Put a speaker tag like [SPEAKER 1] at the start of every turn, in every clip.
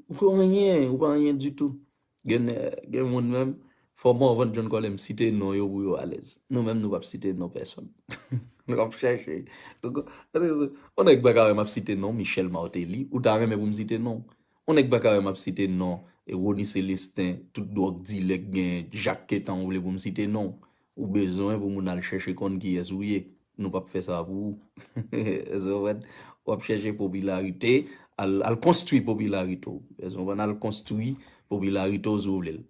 [SPEAKER 1] Ou pa anyen, ou pa anyen ditou. Gen gen moun menm, fò Morvan John Colem site non yo pou yo alèz. Nou menm nou pap site non pèsòn. Nou ap chèche. On nèg pa ka wè m ap site non Michel Martelly, ou ta renmen pou m site non w. On nèg pa ka wè m ap site non Rony Celestin, tout dwòg dilè k gen, Jacques Quettant ou vle pou m site non w. Ou bezwen pou moun al chèche konn kiyès ou ye. Nou pap fè sa pou ou. Èske w konprann? W ap chèche popilarite, al konstwi popilarite w. Èske w konprann? Al konstwi popilarite w si w vle l.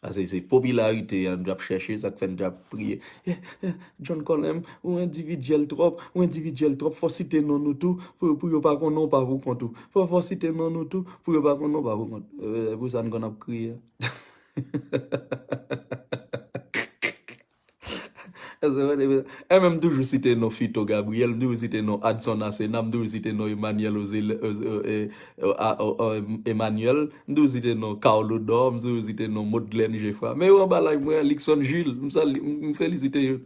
[SPEAKER 1] Pase se popilarite a nou ap chèche, sa k fè nou te ap priye, John Colem, ou endividyèl twòp, ou endividyèl twòp, fò w site non nou tou pou yo pa konnen w pa pou kont ou. Fò w site non nou tou pou yo pa konnen w pa pou kont ou. Se pou sa nou konn ap kriye a. Èske m toujou site non Fito Gabriel, m toujou site non Adson Asena, m toujou site non Emmanuel Emmanuel, m toujou site non Carl Odor, m toujou site non Maudglen Geffrard. Men yo anba live mwen an, Luckson Jules, m salye, m felisite yo.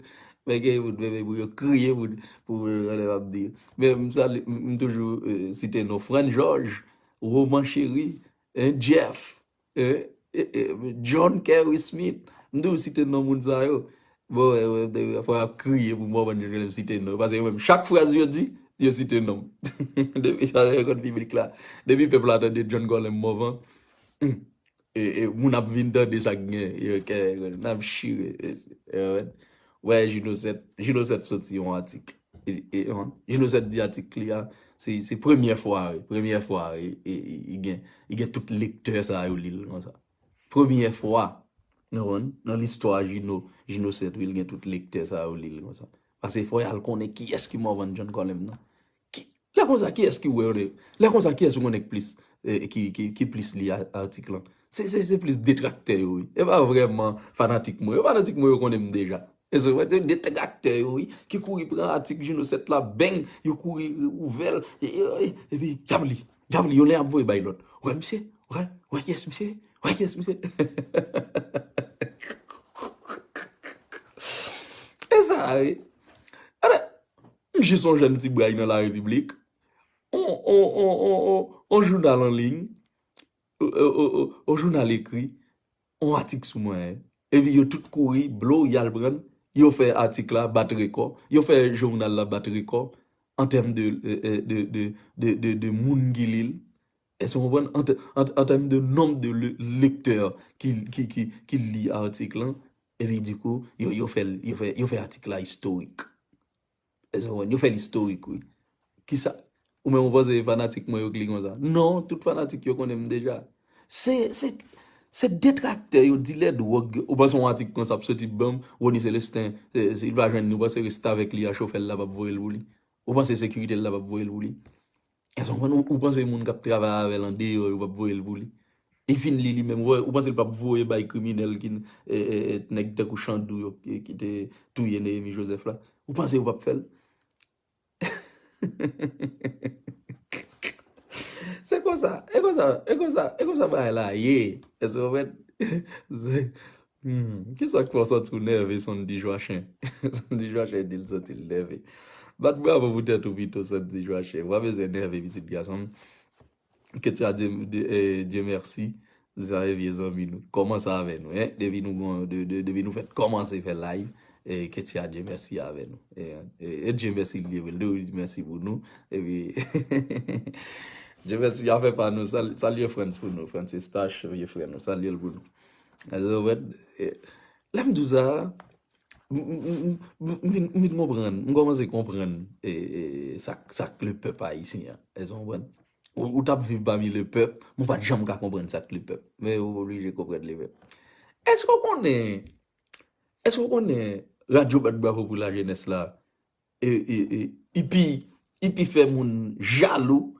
[SPEAKER 1] Men gen yon moun pou yo kriye pou sa lè m ap di yo. Men m salye, m toujou site non Frantz Georges, Roman Chéry, Jeff. John Kerry Smith m toujou site non moun sa yo bon fwa ap kriye pou mò bann lèm site non pase yo menm chak fraz yo di yo site nom depi sa yo konn piblik la depi pèp la tande John Colem Morvan moun ap vin tande sak gen yo kè nap chire Wè Juno 7, Juno 7 soti yon atik, Juno 7 di atik li a, se premyè fwa wi, premyè fwa wi, li gen tout lektè sa yo li l konsa. Premyè fwa, nou konn, nan listwa Juno, Juno 7 wi, li gen tout lektè sa yo li l konsa. Pase fò y al konnen kiyès ki Morvan John Colem nan. Ki lè konsa kiyès ki wè re lè konsa kiyès ou konnen ki plis ki ki ki plis li atik lan se se se plis detraktè yo wi e pa vrèman fanatik mwen yo fanatik mwen yo konnen m deja e se wè se detraktè yo wi ki kouri pran atik Juno 7 la beng yo kouri ouvè l e e epi y ap li y ap li yo lè y ap voye bay lòt wè misye wè wè kiyès misye ye wè kiyès misye ehnnnnnnnnnnnnnnn e sa a wi ann Mnje son jèn ti bray nan larepiblik, on jounal an liy, on jounal ekri, on atik sou mwen, epi yo tout kouri blou yal prann, yo fè atik la bat rekò, yo fè jounal la bat rekò, an tèm de moun ki li l, Èske nou konprann? An tèm de nonb de lektè ki li atik lan, epi dikou, yo fè atik la istorik. Èske nou konprann? Yo fè l istorik, wi. Kisa? Ou menm ou panse se fanatik mwen yo ki li konsa? Non, tout fanatik yo konnen m deja. Se detraktè yo, dilè dwòg yo. Ou panse yon atik konsa ap soti ban m, Rony Celestin, si l pa jwenn li, ou panse restavèk li a, chofè l la p ap voye l pou li? Ou panse sekirite l la p ap voye l pou li? Èske w konprann? Ou panse moun k ap travay avè l andeyò yo pap voye l pou li? E fin li li menm, ou panse l pap voye bay kriminèl ki nèg tankou Chandou yo ki te touye Néhémie Joseph la? Ou panse yo pap fè l? Se konsa, e konsa, e konsa, e konsa bagay la ye. Èske w konprann? Humm kisak fè w santi w nève Sandy Joachim Sandy Joachim di l santi l nève Bat bravo pou tèt ou pito Sandy Joachim ou pa bezwen nève pitit gason m Ke tu a Dieu Dieu merci Sa se vye zanmi nou Kòmanse avè nou hein Depi nou gon Depi nou fèt kòmanse fè live Ke tu a Dieu merci avè nou E Dieu merci l ye vre l dwe di mèsi pou nou Epi Dieu merci a fè pa nou Salye Frantz pou nou Frantz Eustache vye frè nou Salye l pou nou Rewèd Lè m di w sa a, m vin konprann, m kòmanse konprann sa k lepèp ayisyen an. Èske w konprann? Ou t ap viv pami lepèp, men w pa t janm ka konprann sa k lepèp. Men ou oblije konprann lepèp. Èske w konnen, èske w konnen Radyo Bat Bravo Pou Lajenès la, li pi fè moun jalou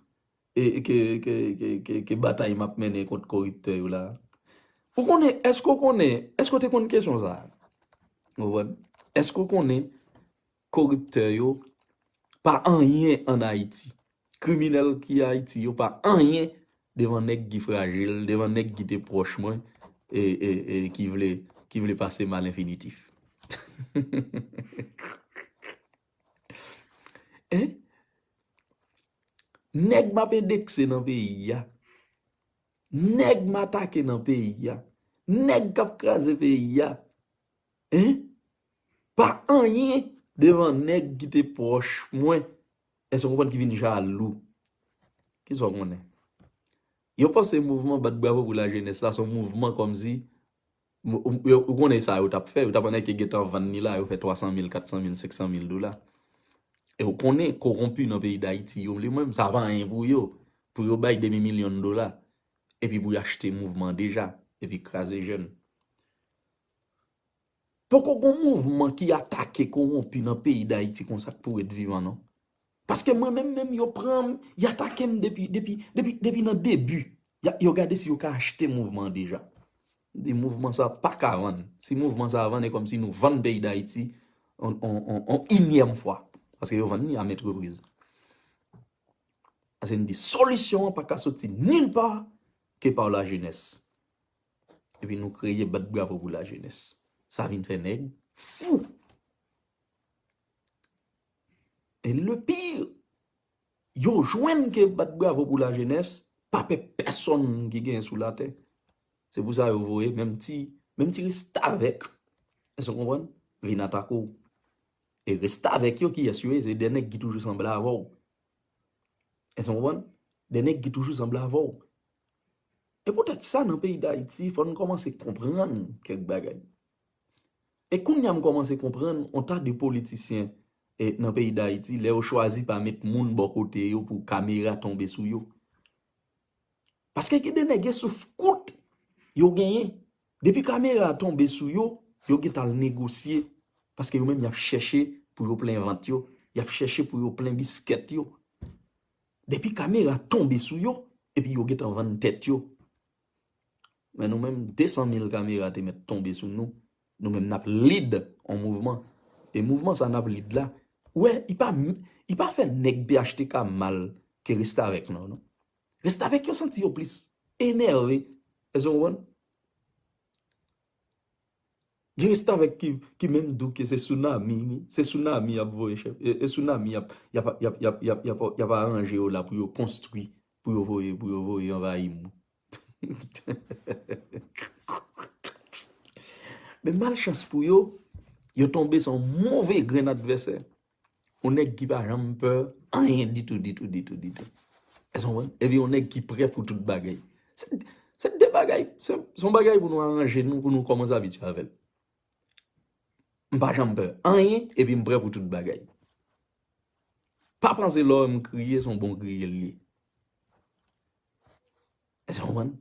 [SPEAKER 1] ke batay map mennen kont koriptè yo la. Ou konnen, eske ou konnen, eske ou te konn kesyon sa? Ou konprann? Eske ou konnen koriptè yo pa anyen an Ayiti? Kriminèl ki Ayiti yo pa anyen devan nèg ki frajil, devan nèg ki te pwòch mwen e ki vle pase m a lenfinitif. Hein? Nèg m ap endekse nan peyi a, nèg m atake nan peyi a, nèg k ap kraze peyi a, hein, pa anyen devan nèg ki te pwòch mwen, èske w konprann, ki vin jalou. Ki sa w konnen? Yo panse mouvman bat bravo pou lajenès la se yon mouvman kòmsi Ou konnen sa yo t ap fè? Yo t ap annèke gentan vann li la, yo fè 300 mil, 400 mil, 500 mil dola. E ou konnen kowonpi nan peyi Dayiti yo li menm, sa pa anyen pou yo. Pou yo bay demi milyon dola, epi pou y achte mouvman deja, epi kraze jèn. Poko gen yon mouvman ki atake kowonpi nan peyi Dayiti konsa k pou ret vivan non. Paske mwen menm menm yo pranm, y atakem depi, depi, depi, depi nan debi. Ya, yo gade si yo ka achte mouvman deja. M di mouvman sa paka vann. Si mouvman sa vann e kòm si nou vann peyi Dayiti on, on, on, on inyèm fwa. Paske yo vann ni a mètrepriz. Ase m di solisyon an paka soti nil pa ke pa la jenès. Epi nou kreye bat bravo pou la jenès. Sa vin fè nèg fou. Et le pire, yo jwenn ke bat bravo pou la jeunesse pa pè pèsòn ki gen sou la tè. Se pou sa yo voye menm ti, menm ti restavèk, èske w konprann, vin atake w. E restavèk yo kiyès yo ye? Se de nèg ki toujou sanble avè w. Èske w konprann? De nèg ki toujou sanble avè w. E poutèt sa nan peyi Dayiti fò n kòmanse konprann kèk bagay. E kounya m kòmanse konprann on ta de politisyen nan peyi dayiti lè yo chwazi pa met moun bò kote yo pou kamera tonbe sou yo. Paske gen de nèg gen souf kout yo genyen. Depi kamera a tonbe sou yo, yo gentan al negosye paske yo menm y ap chèche pou yo plen vant yo, y ap chèche pou yo plen biskèt yo. Depi kamera tonbe sou yo epi yo gentan vann tèt yo. Men nou menm 200 mil kamera te mèt tonbe sou nou, nou menm nap lead on mouvman. E mouvman sa nap lead la, ou wè li pa fè nèg phtk mal ke restavèk lan non. Restavèk yo santi yo plis enève, èske w konprann? Gen restavèk ki menm dou ke se sounami wi, se sounami yap voye chèf, e sounami yap yap aranje yo la pou yo konstwi pou yo voye pou yo voye anvayi moun. Men malchans pou yo, yo tonbe san yon move grenn advèsè. Yon nèg ki pa janm pè anyen ditou, ditou, ditou, ditou. Èske nou konprann? Epi yon nèg ki prè pou tout bagay. Se de bagay, se yon bagay pou nou aranje nou, pou nou kòmanse abitye avè l. M pa janm pè anyen, epi m prè pou tout bagay. Pa panse lè w wè m kriye, se yon bon kriye l ye. Èske w konprann?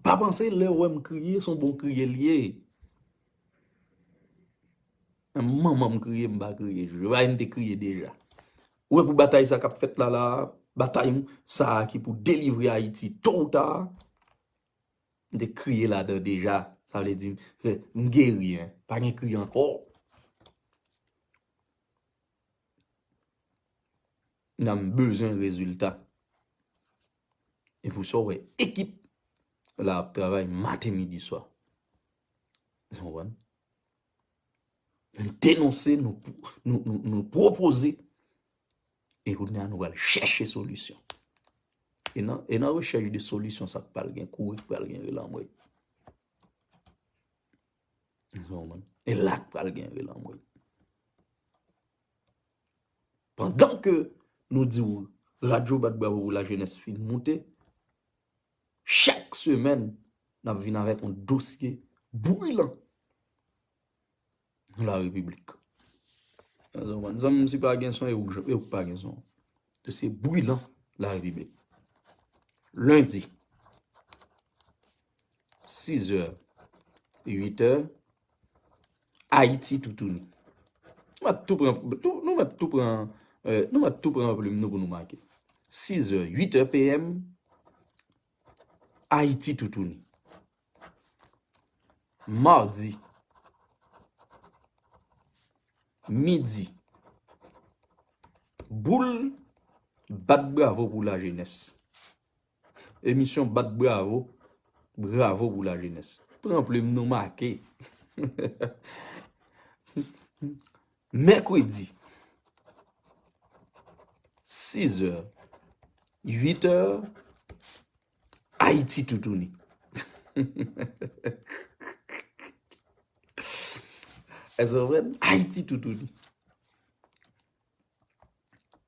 [SPEAKER 1] Pa panse lè ou wè m kriye se yon bon kriye l ye. Menm manman m kriye m pa kriye. Jwe bay m te kriye deja. Ou wè pou batay sa k ap fèt la la a, batay m sa a ki pou delivre Ayiti to ou ta, m te kriye ladan deja. Sa vle di m geri. Pa gen kri ankò. Nan bezwen rezilta. E pou sa ou wè ekip la ap travay maten midi swa. Esou konprann? Nou denonse, nou pwopoze, e kounye a nou al chèche solisyon. E nan rechèche de solisyon sa k pral gen kouri, k pral gen relanmwe. E la k pral gen vil anmwey. Pandan ke nou di ou radyo bat bravo pou la jenès fin moute, chak semen n ap vin avèk yon dosye bwilan nan la repiblik. Zanm si pa gen son e ou pa gen son. Dosye bwilan la repiblik. Lendi. 6 heures, 8 heures, Ayiti toutouni. Nou mèt tou pran plume nou pou nou make. 6 heures, 8 heures PM, Ayiti toutouni. Mardi, midi, boule, bat bravo pou la jenès. Emisyon bat bravo, bravo pou la jenès. Pran plim nou make. Mèkredi 6 è, 8 è, Ayiti toutouni. Èzè vre, Ayiti toutouni.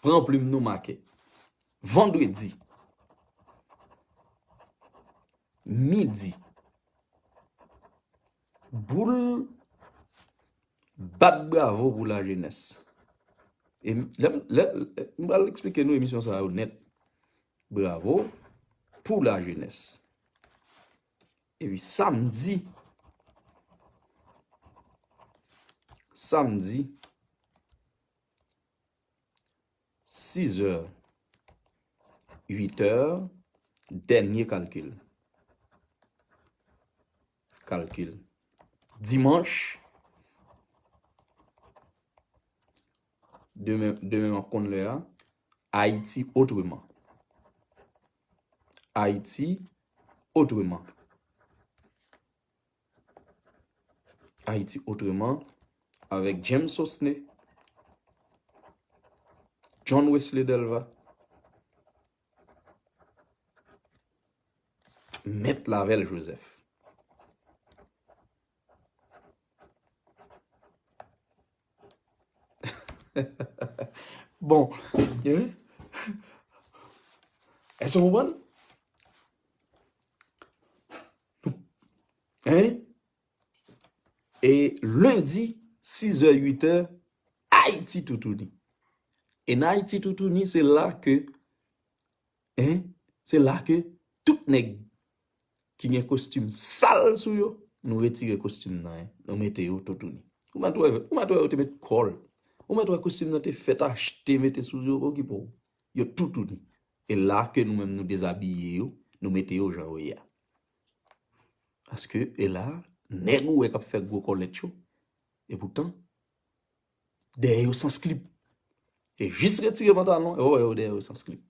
[SPEAKER 1] Pran plim nou make. Vandredi midi boul bat bravo pou lajenès. E m pral eksplike nou emisyon sa yo nèt. Bravo pou lajenès. Epi sa m di, sa m di, 6 è, 8 è, dènye kalkil. Kalkil. Dimanch, demen map konn lè a, Ayiti otreman. Haïti autrement. Haïti autrement avec James Sosne, John Wesley Delva, Maître Lavel Joseph. Bon, èske nou konprann? E lendi, 6 è, 8 è, Ayiti toutouni. E nan Ayiti toutouni, se la ke Hein se la ke tout nèg ki gen kostim sal sou yo nou retire kostim nan hein nou mete yo to tounen. Ou mèt wè ou mèt wè yo te met kòl ou mèt wè kostim nan te fèt achte mete sou yo okipe w yo tou tounen e la ke nou menm nou dezabiye yo nou mete yo jan yo ye a. Paske e la nèg ou wè kap fè gwo kòlèt yo e poutan. Dèyè yo sans klip. Yo jis retire pantalon yo, wè yo dèyè yo sans klip.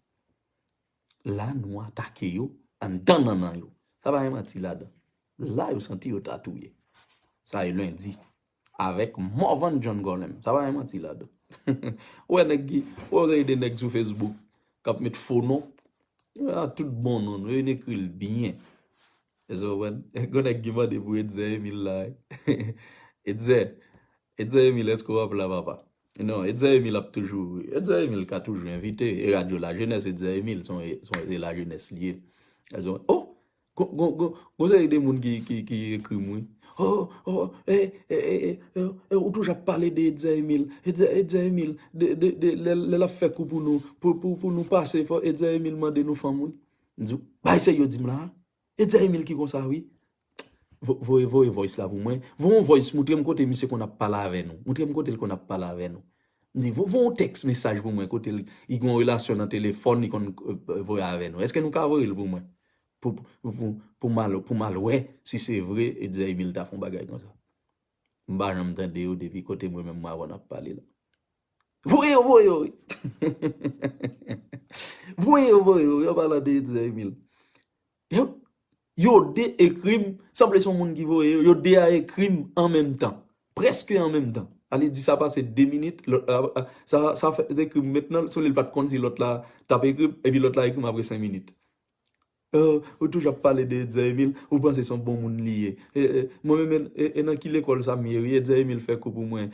[SPEAKER 1] La nou atake yo anndan nannan yo. Sa pa gen manti ladan. La yo santi yo ta touye. Sa e lendi. Avèk Morvan John Gorlem. Sa pa gen manti ladan. Wè nèg ki, wè yo gen de nèg sou Facebook k ap met fo non. Yo gen tout bon non nou. Yo vin ekri l byen. Èske w konprann? Gen nèg ki mande pou Etzer Emile la. Etzer, Etzer Emile eske wap la papa? Non Etzer Emile ap toujou Etzer Emile ka toujou envite e radyo la jenès Etzer Emile son se la jenès li ye oh gon seri de moun ki ekri m wi oh ou toujou ap pale de Etzer Emile Etzer Emile lè lap fè kou pou nou pou nou pase Etzer Emile mande nou fanm wi m di bay se yo di m la E Djaimil ki konsa wi. Voye voye voice la pou mwen. Voye yon voice moutrem kote misye konn ap pale avè nou. Moutrem kotel konn ap pale avè nou. Mdi vo voye yon text mesaj pou mwen kotel li gen yon relasyon nan telefòn li konn voye avè nou. Eske nou ka voyel pou mwen. Poum al poum al wè si se vre e Djaimil ta fon bagay konsa. Mpa janm tande yo depi kote mwen menm mwen avèw nap pale la. Voye yo voye yo wi. Voye yo voye yo. Yo palan de Edzer Emile. Yo de ekrim. Sanble son moun ki voye yo. Yo de a ekrim an menm tan. Preske an menm tan. Ale di sa pase 2 minit. Sa fè ekrim met nan. Sou li pat konn si lot la tap ekrim. Epi lot la ekrim apre 5 minit. Ohh ou toujou ap pale de Edzaemil ou panse son bon moun li ye mwen menm e nan ki lekòl sa m ye wi Edzaemil fè kou pou mwen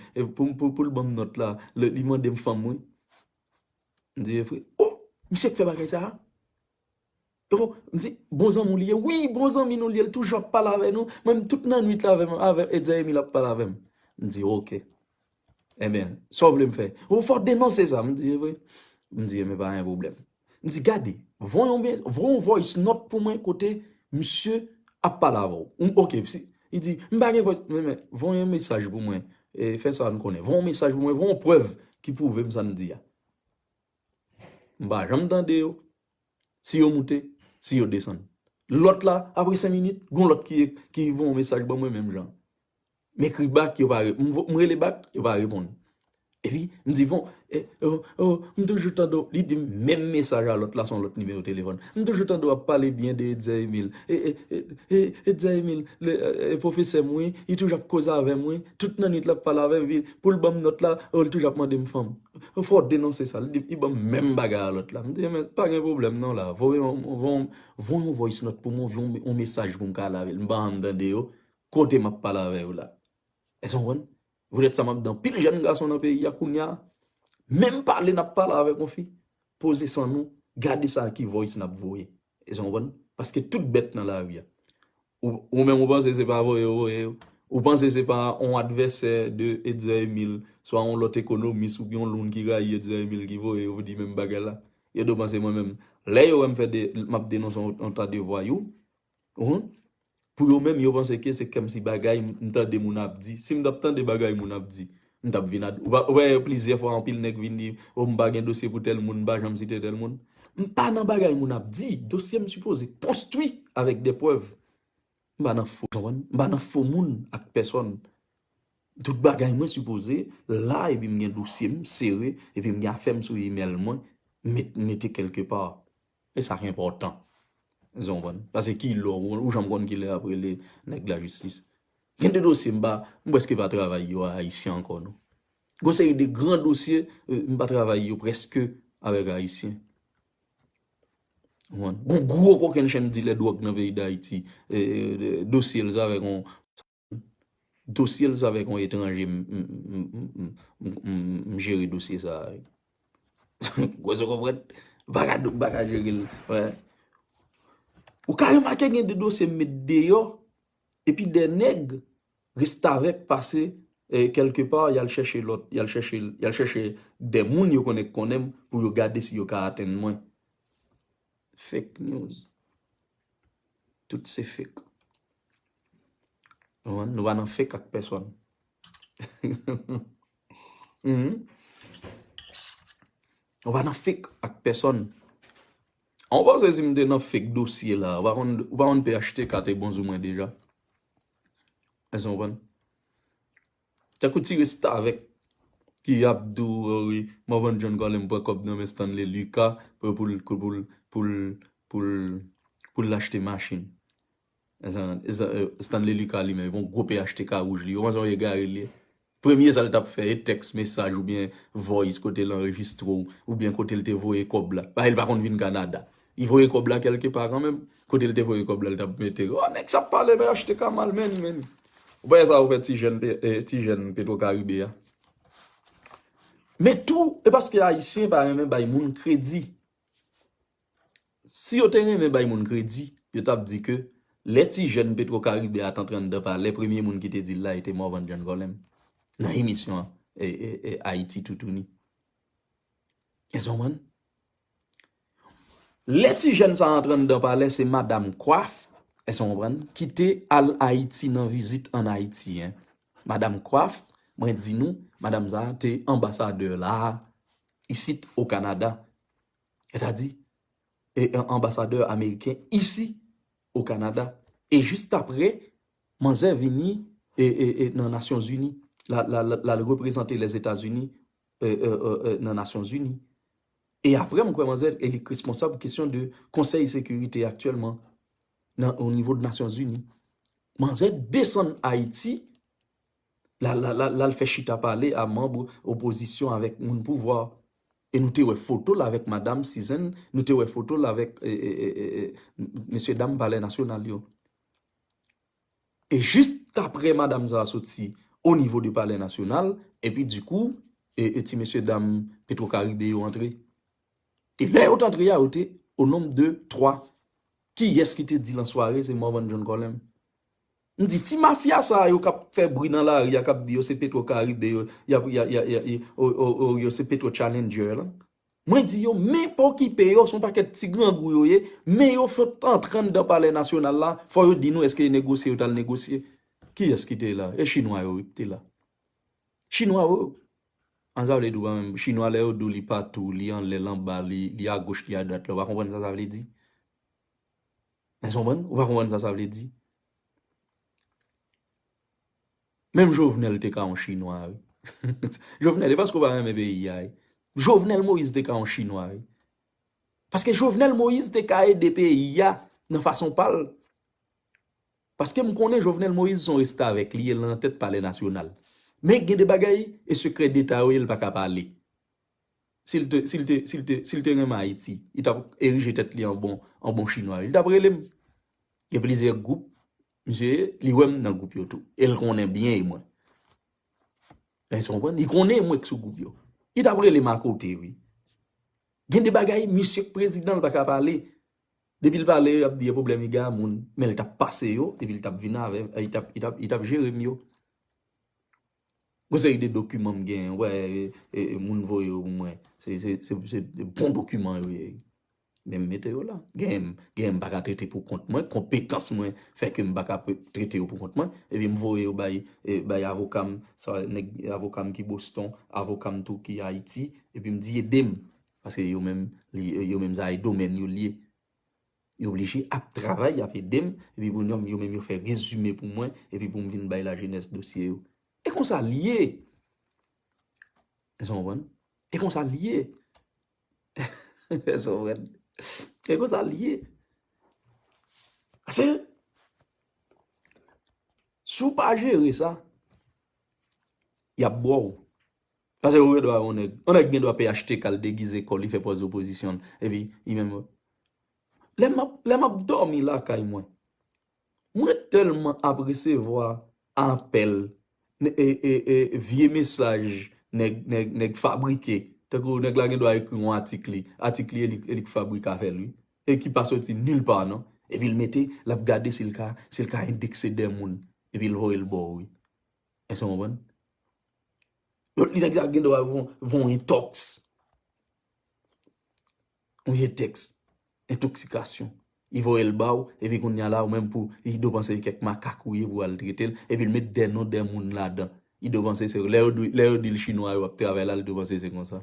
[SPEAKER 1] poul banm nòt la li mandem fanm wi m di evre ohh misye k fè bagay sa ohh m di bon zanmi w li ye wi bon zanmi nou li ye l toujou ap pale avè nou menm tout nannuit la avèm Edzaemil ap pale avèm m di ok. Ebyen, sa w vle m fè? Ou fò denonse sa. M di, e vre? M di, ebyen pa gen pwoblèm. M di, gade, voye yon voice note pou mwen kote misye ap pale avè w. M ok. Li di, m pa gen voice note. M di, men, voye yon mesaj pou mwen. E fè sa n konnen. Voye yon mesaj pou mwen. Voye yon prèv ki pwouve m sa n di a. M pa janm tande yo. Si yo moute, si yo desann. Lòt la, apre 5 minit, gen yon lòt ki voye yon mesaj ban mwen menm jan. M ekri bak, yo pa reponn. M rele bak, yo pa reponn. Epi, m di bon, e, o, o, m toujou tande w, li di m menm mesaj a lòt la son lòt nimewo telefòn. M toujou tande w ap pale byen de Etzer Emile. E, e, e, e, Etzer Emile, le, e, pwofesè m wi, li toujou ap koze avè m wi. Tout nannuit l ap pale avè m epi pou l ban m nòt la, o, li toujou ap mande m fanm. Fò w denonse sa. Li di m, li ban m menm bagay a lòt la. M di men, pa gen pwoblèm non la. Voye yon, voye yon, voye yon voice note pou m, yon mesaj pou m ka ale avè l. M pa janm tande yo, Kote m ap pale avè yo la. Èske w konprann? Poutèt sa m ap di anpil jèn gason nan peyi a kounye a, menm pale n ap pale avèk yon fi, poze san nou, gade sa ki voice n ap voye. Èske w konprann? Paske tout bèt nan lari a. Ou menm ou panse se pa voye yo voye yo? Ou panse se pa yon advèsè de Etzer Emile, swa yon lòt ekonomis oubyen yon loun ki rayi Etzer Emile ki voye yo pou di menm bagay la? Yo dwe panse mwen menm. Lè yo wè m fè de, m ap denonse yon ta de vwayou, Uhmm pou yo menm yo panse ke se kèmsi bagay m tande moun ap di. Si m tap tande bagay moun ap di, m tap vin ad ou pa wè plizyè fwa anpil nèg vin di oh m pa gen dosye pou tèl moun m pa janm site tèl moun. M pa nan bagay moun ap di, dosye m sipoze konstwi avèk de prèv. M pa nan fo, konprann? M pa nan fo moun ak pèsòn. Tout bagay mwen sipoze la epi m gen dosye m sere epi m gen afè m sou imèl mwen met mete kèlke pa. E sa ki enpòtan. Èske w konprann? Pase ki lè w, ou janm konn ki lè y ap rele nèg lajistis. Gen de dosye m pa, m prèske pa travay yo a Ayisyen ankò non. Gen yon seri de gran dosye m pa travay yo prèske avèk Ayisyen. Ou konprann? Gen yon gwo kokennchenn dilè dwòg nan peyi Dayiti, dosye l se avèk yon. dosyel sa avèk yon etranje m jere dosye sa wi gwaz ou konprann m paka jerel ou ka remake gen de dosye m met deyò epi de nèg restavèk pase kelke pa yal chèche lòt yal chèche de moun yo konnen k konnen m pou yo gade si yo ka atenn mwen Fake news. Tout se fake. Ou konprann? Nou pa nan fake ak pèsòn. Nou pa nan fake ak pèsòn. An ou panse si m te nan fake dosye la, ou pa konn, ou pa konn phtk te bon sou mwen deja? Èske ou konprann? Tankou ti restavèk ki ap di w o wi Morvan John Colem pran kòb nan men Stanley Lucas pou l pou l pou l pou l pou l achte machin. Stanley Lucas li menm epi yon gwo phtk wouj li. Ou panse yon egare l ye? Premye sa l t ap fè e tèks mesaj oubyen voice kote l anrejistre w oubyen kote l te voye kòb la. Paske l pa konn vin Kanada. Li voye kob la kelke pa kanmenm. Kotel te voye kob la li tap mete. Oh neg sa ap pale men achteka mal many many. Ou pa wè sa ou fè ti jèn ti jèn petro karibe a. Men tou e paske ayisyen pa renmen bay moun kredi. Si yo te renmen bay moun kredi yo tap di ke lè ti jèn petro karibe a t antre anndan palè premye moun ki te dil la e te morvan djann volèm nan emisyon ayiti toutouni. Eske w konprann? Lè ti jèn sa antre anndan palè se madam Kwaf, èske w konprann, ki te al Ayiti nan vizit an Ayiti. Madam Kwaf, mwen di nou, madam sa a te anbasadè la a, isit o Kanada. Sètadi, e anbasadè ameriken isi o Kanada. E jistapre, manzè vini e nan Nasyonzini. L al reprezante Lèzetazini nan Nasyonzini. E aprè m kwè manzè e li k responsab kesyon de konsèy sekirite aktyèlman nan o nivo de nasyon zini. Manzè desann Ayiti la l fè chita pale a manb opozisyon avèk moun pouvwa. E nou te wè foto l avèk madam Sizann, nou te wè foto l avèk mesye dam palè nasyonal yo. E jis aprè madam sa a soti o nivo de palè nasyonal, epi di kou, e ti mesye dam petwo karibe yo antre. E lè yo t antre a yo te o nonb de 3. Kiyès ki te di lan sware se Morvan John Colem? M di ti mafya sa a yo k ap fè bri nan lari a k ap di yo se petwo karibe yo, y ap, y a, y a, y a, y a, o, o, o, yo se petwo challenger lan, Mwen di yo, men pa okipe yo, se yon pakèt ti grangou yo ye, men yo sot antre anndan palè nasyonal la, fò yo di nou eske e negosye yo t al negosye. Kiyès ki te la? E chinwa yo wi ki te la. Chinwa yo, an sa vle di ou pa menm, chinwa lè yo di w li patou, li anlè, l anba, li agoch, li adwat la, ou pa konprann sa sa vle di? Èske w konprann? Ou pa konprann sa sa vle di? Menm jovenel te ka yon chinwa wi. Jovenel e paske ou pa renmen peyi a wi. Jovenel moïse te ka yon chinwa wi. Paske jovenel moïse te ka ede peyi a nan fason pal. Paske m konnen jovenel moïse son restavek li e lan tet palè nasyonal. Men gen de bagay e sekrè deta yo e li pa ka pale. Sil te sil te sil te sil te renmen ayiti li tap erije tet li an bon an bon chinwa wi. Li tap relem. Gen plizyè gwoup Misye li wèm nan group yo tou el konnen byen e mwen Eskew konprann li konnen mwen k sou group yo li tap relem akote wi gen de bagay misye k prezidan l paka pale depil pale yap di e problèm iga moun menl tap pase yo epil tap vin avèm li tap jerem yo. Yon seri de dokiman m gen, wè moun voye yo pou mwen, se bon dokiman yo ye. Men m mete yo la. Genyen m pa ka trete pou kont mwen, konpetans mwen fè ke m pa ka trete yo pou kont mwen. Epi m voye yo bay avoka m, avoka m ki Boston, avoka m tou ki Ayiti, epi m di ede m. Paske yo menm, yo menm sa e domèn yo lye. Yo oblije ap travay, y ap ede m, epi pou yo menm yo fè rezime pou mwen, epi pou m vin bay lajenès dosye yo. E konsa l ye! Èske w konprann? E konsa l ye! Èske w konprann? E konsa l ye! Paske, si w pa jere sa, y ap bo w. Pase ou gendwa yon nèg. Yon nèg gendwa phtk l degize kò l li fè pòz opozisyon l epi li menm Lè m ap lè m ap dòmi lakay mwen mwen tèlman ap resevwa apèl e e e vye mesaj nèg nèg nèg fabrike tankou nèg la gendwa ekri yon atik li atik li e li e li k fabrike afè l wi e ki pa soti nil pa non epi l mete l ap gade si l ka si l ka endekse de moun epi l voye l ba w wi. Èske nou konprann? Lòt li nèg sa gen dwa voun entòks. Yon vye tèks. Entoksikasyon. Li voye l ba ou, epi kounya la ou menm pou Ido panse se kèk makak ou ye pou al trete l, epi l met de non de moun ladan. Ido panse se, lè yo di l chinwa yo ap travay la, Ido panse se konsa.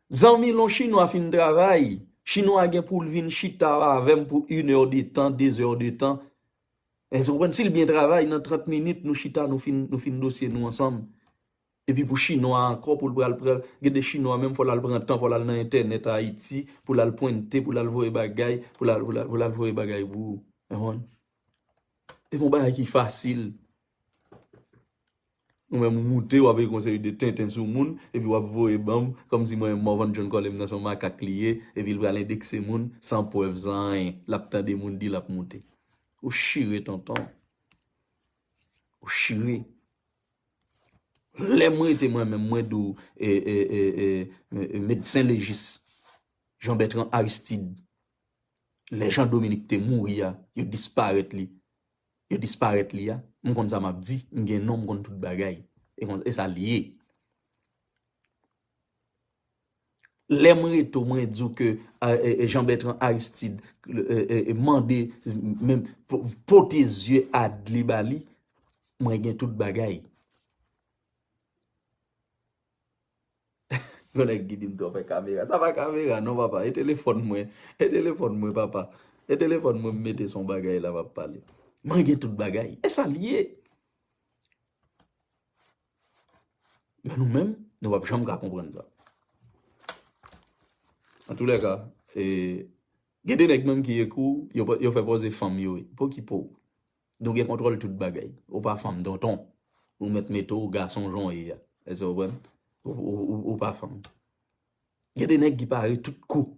[SPEAKER 1] Zanmi lè yon chinwa fin travay, chinwa gen pou l vin chita avè m pou inè de tan, dezè de tan, Èske ou konprann? Si l byen travay, nan 30 minit nou chita nou fin nou fin dosye nou ansanm. Epi pou chinwa a ankò pou l pral pran, gen de chinwa menm fò l al pran tan, fò l al nan entènèt Ayiti pou l al pwennte, pou l al voye bagay, pou l al pou l al pou l al voye bagay pou ou. Epi yon bagay ki fasil. Ou menm ou moute wap ekri yon seri de tenten sou moun epi wap voye banm kòmsi mwen Morvan John Colem nan son makak li ye epi li pral endekse moun san prèv san anyen lap tande moun di lap moute ou chire tonton ou chire lèm rete mwen menm mwen di w medsen lejis Jean Bertrand Aristide lè Jean Dominique te mouri a yo disparèt li yo disparèt li a m konn sa map di m gen non m konn tout bagay e konsa esa li ye lèm rete w mwen diw ke Jean Bertrand Aristide mande pote zye ad li ba li mwen gen tout bagay. Yon nèg ki dim twòpè kamera. Sa pa kamera non papa e telefòn mwen. E telefòn mwen papa. E telefòn mwen m mete son bagay la map pale. Mwen gen tout bagay. E sa l ye. Men nou menm nou pap janm ka konprann sa. An tou lè ka e gen de nèg menm ki ekri w yo fè pòze fanm yo e. Pokipo w. Nou gen kontwòl tout bagay. Ou pa fanm tonton. Ou mèt mete w gason jan w ye a. Èske w konprann? Ou pa fanm. Gen de nèg ki pare tout kou.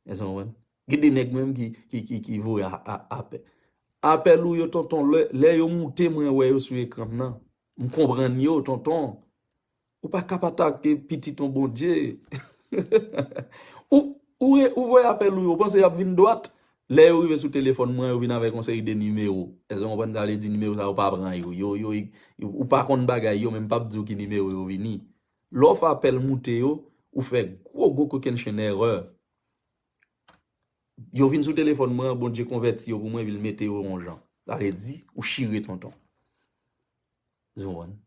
[SPEAKER 1] Èske w konprann? Gen de nèg menm ki voye apèl. Apèl ou yo tonton lè yo moute mwen wè yo sou ekran m nan. M konprann yo tonton. Ou pa kap atake pitit yon Bondye. Ou voye apèl ou yo, ou panse yap vin dwat? Lè yo rive sou telefòn mwen yo vin avèk yon seri de nimewo. Èske w konprann sa vle di? Nimewo sa yo pa pran yo. Yo, yo, ou pa konn bagay yo men m pap di w ki nimewo yo vini. Lè w fè apèl moute yo, ou fè gwo gwo kokennchenn èrè. Yo vin sou telefòn mwen an, Bondye konvèti yo pou mwen epi l mete yo yon jan. Sa vle di, ou chire tonton. Zouan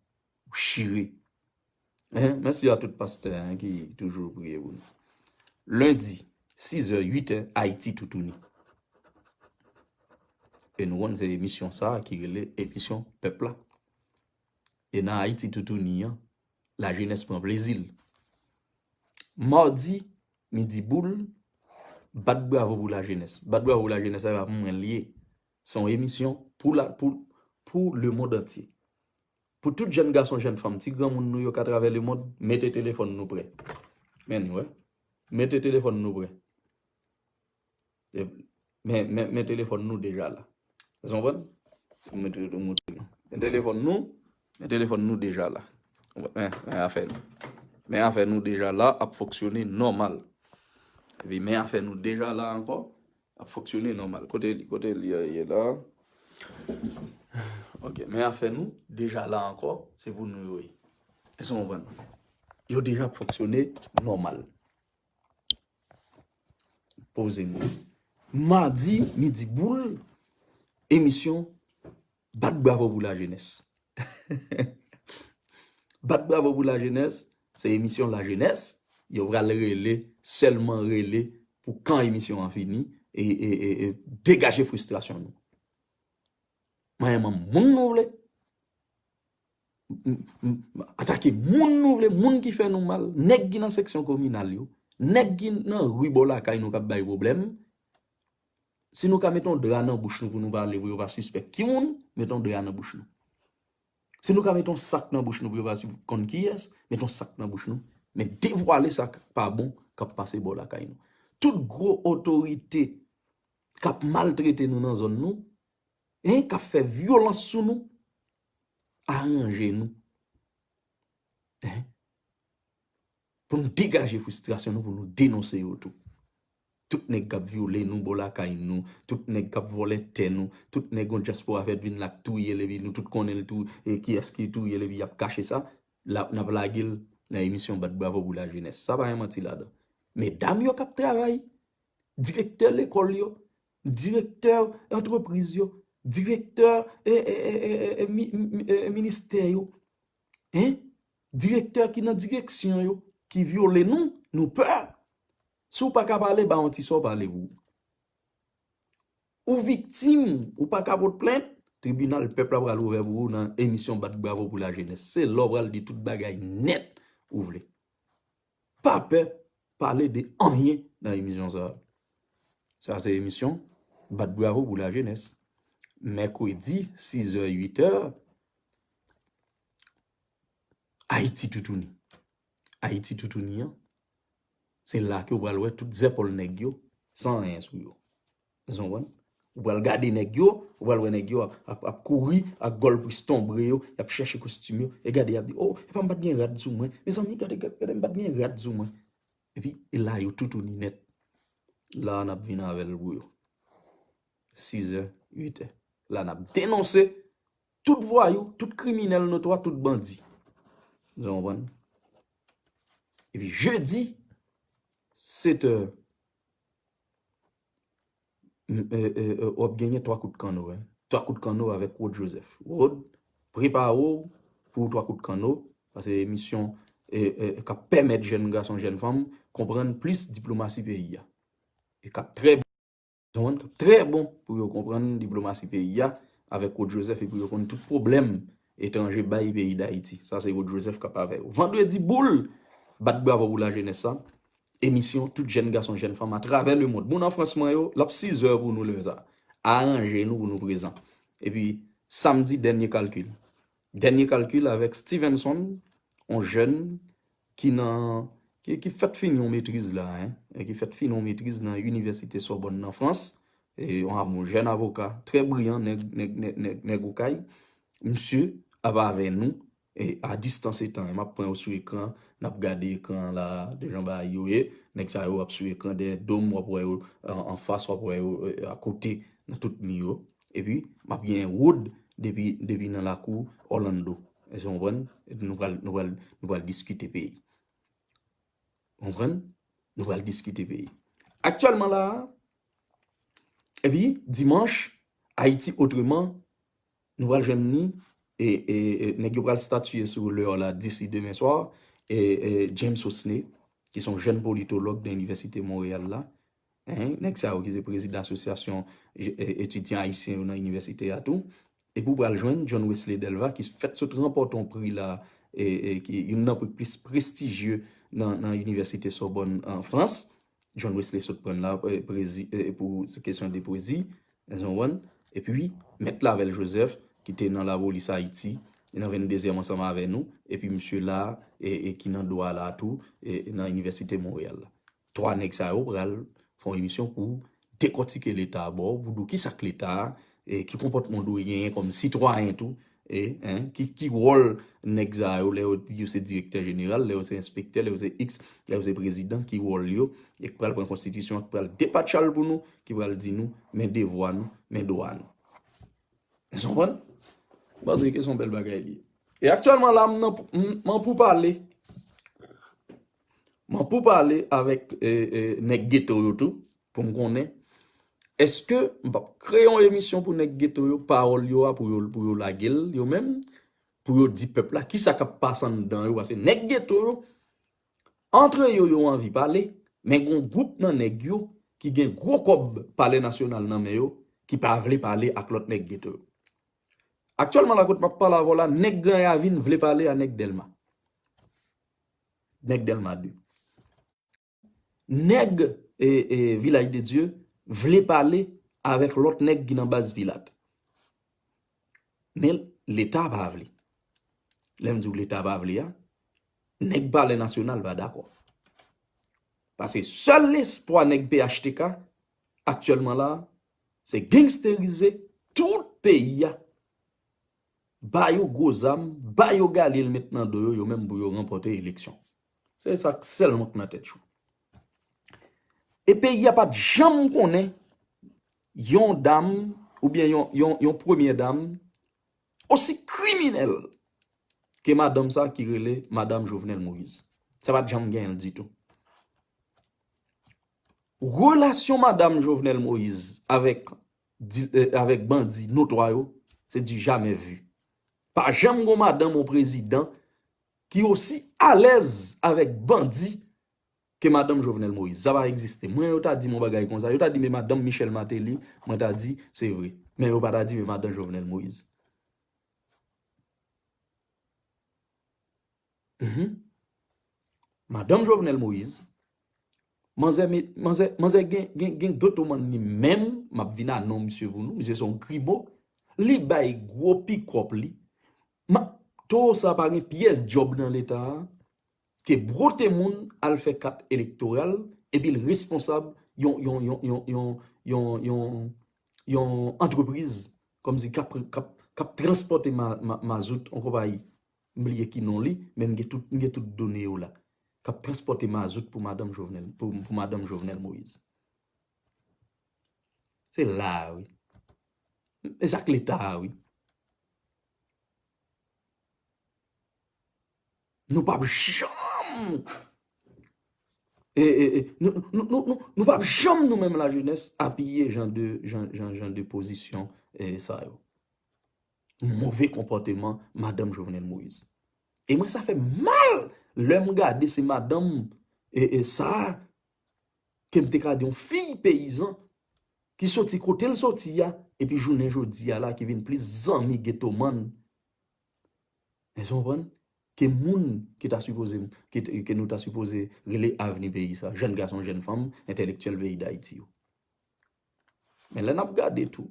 [SPEAKER 1] ou chire. Hein merci a tout pastè hein ki toujou priye pou nou. Lundi 6 heures 8 heures Haïti toutouni. E nou konn se emisyon sa ki rele emisyon pèp la. E nan Haïti toutouni an la jenès pran plezi l. Mardi midi boule bat bravo pou la jenès. Bat bravo pou la jenès sa e pa pou mwen li ye. Se yon emisyon pou la pou pou lemond antye. Pou tout jèn gason jèn fanm ti granmoun nou yo k atravè lemond mete telefòn nou prè. Men li wè. Mete telefòn nou prè. Men men men telefòn nou deja la. Èske nou konprann? M mete m montre nou. Men telefòn nou, men telefòn nou deja la. Men men afè nou. Men afè nou deja la ap fonksyone nòmal. Epi men afè nou deja la ankò Ap fonksyone nòmal. Kote li? Kote li ye la? Ok, men afè nou deja la ankò, se pou nou yo ye. Èske nou konprann? Yo deja ap fonksyone nòmal. Poze nou. Madi midi boule, emisyon. Bat bravo pou la jenès. Bat bravo pou la jenès se emisyon la jenès yo pral rele sèlman rele pou kan emisyon an fini e degaje fristrasyon nou. Manyen manm moun nou vle. Atake moun nou vle, moun ki fè nou mal, nèg ki nan seksyon kominal yo, nèg ki nan rue bò lakay nou kap bay problème, Si nou ka mete yon dra nan bouch nou pou nou pale pou yo pa sispèk ki moun, mete yon dra nan bouch nou. Si nou ka mete yon sak nan bouch nou pou yo pa konn kiyès, mete yon sak nan bouch nou. Men devwale sa k pa bon k ap pase bò lakay nou. Tout gwo otorite k ap maltrete nou nan zòn nou, k ap fè vyolans sou nou, aranje nou. Pou nou degaje fristrasyon nou pou nou denonse yo tou. Tout nèg kap vyole nou bò lakay nou, tout nèg kap vòlè tè nou, tout nèg yon dyaspora fèt vin la k touyel epi nou tout konnen l tou e kiyès ki touyel epi yap kache sa, la nap lage l nan emisyon bat bravo pou lajenès. Sa pa gen manti ladan. Medam yo kap travay, direktè lekòl yo, direktè antrepriz yo, direktè ministè yo. Hein? Direktè ki nan direksyon yo ki vyole nou, nou pè. Si w pa ka pale, ba yon ti sa w pale pou ou. Ou viktim, ou pa ka pot plent, tribinal pèp la pral ouvè pou ou nan emisyon bat bravo pou lajenès. Se la w pral di tout bagay nèt ou vle. Pa pè pale de anyen nan emisyon sa. Sa se emisyon bat bravo pou la jenès. Mèkredi 6 è 8 è Ayiti toutouni. Ayiti toutouni an se la ke ou pral wè tout zèpòl nèg yo san anyen sou yo. Èske w konprann? Ou pral gade nèg yo, ou pral wè nèg yo ap kouri ak gòl pristonbre yo, y ap chèche kostim yo, e gade y ap di, o, e pa m pa t gen rad sou mwen, mezanmi gade, gade m pa t gen rad sou mwen. Epi, e la yo toutouni nèt. La a n ap vin avè l pou yo. Sizè, uitè. La a n ap denonse tout vwayou, tout kriminèl notwa, tout bandi. Èske w konprann? Epi, jedi, setè. wap genyen 3 kout kanno wi. 3 kout kanno avèk Rod Joseph. Rod, prepare w pou 3 kout kanno, sa se emisyon kap pèmèt jèn gason, jèn fanm konprann plis diplomasi peyi a. E kap trè bon pou yo, trè bon pou yo konprann diplomasi peyi a avèk Rod Joseph e pou yo konn tout pwoblèm Etranje bay peyi dayiti. Sa se Rod Joseph kap avè yo. Vendredi boul! Bat bravo pou lajenès sa. Emisyon tout jèn gason jèn fanm atravè le mond. Moun an Frans mwen yo, lap 6 zè pou nou lè sa. Aranje nou pou nou prezan. Epi samdi dènye kalkil. Dènye kalkil avèk Stevenson, yon jèn. ki nan, ki fèt fini yon metriz la, e ki fèt fini yon metriz nan Inivèsite Sòbòn nan Frans, e yon jèn avoka trè briyan, nèg, nèg, nèg, nèg, nèg Okay, misye ap avè nou e a distans etan e map pran yo sou ekran, nap gade ekran an la a, de jan bagay yo ye, nèg sa yo ap sou ekran dèyè do m, wap wè yo anfas, wap wè yo akote nan tout mi yo, epi map gen Wood depi, depi nan lakou Orlando. Èske nou konprann? Epi nou pral, nou pral, nou pral diskite peyi. Ou konprann? Nou pral diskite peyi. Aktyèlman la a, epi dimanch, Ayiti otreman, nou pral jwenn ni, e, e, e, nèg yo pral statye sou Leò la disi demen swa, e, e, James Osney, ki son jèn politològ nan Inivèsite Monreyal la, Hein, nèg sa yo ki se prezidan asosyasyon etidyan ayisyen yo nan inivèsite a tou. Epi ou pral jwenn John Wesley Delva ki fèt sot ranpòte yon pri la, ki youn nan pri ki plis prestijye nan inivèsite Sorbonne an Frans. John Wesley sot pran la pou kesyon de pwezi, èske nou konprann? Epi Mèt Clavel Joseph ki te nan lapolis Ayiti, nan vendezyèm ansanm avè nou, epi misye la ki nan dwa la tou nan inivèsite Montréal la. 3 nèg sa yo pral fè yon emisyon pou dekòtike leta a ba w, pou di w kisa k leta, ki konpòtman w dwe genyen kòm sitwayen tou, ki wòl nèg sa yo lè yo se direktè jeneral, lè yo se enspektè, lè yo se iks, lè yo se prezidan, ki wòl yo, e k pral pran konstitisyon an, k pral depatcha l pou nou, ki pral di nou, men devwa nou, men dwa nou. Èske w konprann? M panse ke se yon bèl bagay li ye. E aktyèlman la, m nan poupale. Mwen pou pale avèk nèg geto yo tou pou m konnen eske m pap kreye yon emisyon pou nèg geto yo pawòl yo a pou yo lage l yo menm pou yo di pèp la kisa k ap pase anndan yo paske nèg geto yo antre yo yo anvi pale men gen yon gwoup nan nèg yo ki gen gwo kòb palè nasyonal nan men yo ki pa vle pale ak lòt nèg geto yo. Aktyèlman la kote m ap pale avè w la nèg Gran Ravin vle pale a nèg Dèlma. Nèg Dèlma 2. Nèg Vilaj de Dye vle pale avèk lòt nèg ki nan baz Pilat. Men leta pa vle. Lè m di w leta pa vle a, nèg palè nasyonal pa dakò. Pase sèl lespwa nèg phtk aktyèlman la, se gangsterize tout peyi a. Ba yo gwo zam, ba yo galil met nan do yo, yo menm pou yo ranpòte eleksyon. Se sa k sèlman k nan tèt yo. E peyi a pa t janm konnen yon dam oubyen yon premye dam osi kriminèl ke madanm sa ki rele madam Jovenel Moïse. Sa pa t janm gen l ditou. Relasyon madam Jovenel Moïse avèk avèk bandi notwa yo se du jamais vu pa janm gon madanm on prezidan ki osi alèz avèk bandi ke madanm Jovenel Moïse sa pa egziste mwen yo ta dim on bagay konsa yo ta dim e madanm Michel Martelly mwen ta di se vre men yo pa ta dim e madan Jovenel Moïse. Madanm Jovenel Moïse, manzè manzè gen doto man ni menm, map vin a non misye pou nou, misye son gribo, li bay gwo pikòp li, ma towo sa pa gen pyès djòb nan leta, ke brote moun al fè kat elektoral, epi l responsab yon yon yon yon yon yon yon yon antrepriz, kòm si kap kap kap transpòte mazout an konpayi. M bliye ki non li, men m gen tout done yo la, k ap transpòte mazout pou madanm Jovenel Moïse. Se la a wi. E sa k Leta a wi. Nou pap janm, nou pap janm nou menm la jenès apiye jan de pozisyon sa yo. move konpòteman madanm Jovenel Moïse. E mwen sa fèm mal lèm gade se madanm sa kem te ka di yon fiy peyizan ki soti kotel soti ya epi jounen jodi ya la ki vin plis zanmi getoman èske nou konprann ke moun ki ta sipoze ke nou ta sipoze rele avni peyi sa jèn gason jèn fanm entèlektyèl peyi dayiti yo. Men lè nap gade tou